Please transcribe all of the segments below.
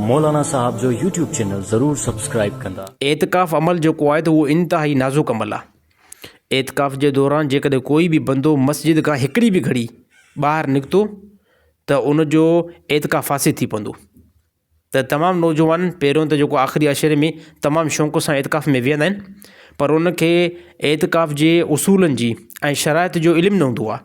مولانا صاحب جو YouTube channel ضرور سبسڪرائب ڪندا. اعتڪاف عمل جيڪو آهي ته اهو انتهائي نازڪ عمل آهي. اعتڪاف جي دوران جيڪڏهن ڪوئي به بندو مسجد کان هڪڙي به گهڙي ٻاهر نڪتو ته ان جو اعتڪاف فاسد ٿي پوندو ته تمام نوجوان پهريون ته جيڪو آخري عشري ۾ تمام شوق سان اعتڪاف ۾ ويهندا آهن پر ان کي اعتڪاف جي اصولن جي ۽ شرائط جو علم نه هوندو آهي.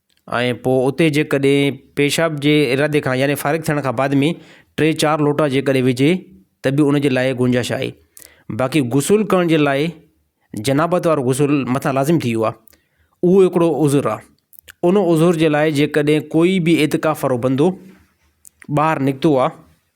۽ پوء اتي جيڪڏهن پيشاب جي ارادي کان يعني فارغ ٿيڻ کان بعد ۾ ٽي چار لوٽا جيڪڏهن وجهي ته به ان جي لاء گنجائش آهي باقي غسل ڪرڻ جي لاء جنابت وارو غسل مٿان لازم ٿي ويو آهي اهو هڪڙو عذر آهي ان عذر جي لاء جيڪڏهن ڪوئي به اعتڪاف وارو بندو ٻاهر نڪتو آهي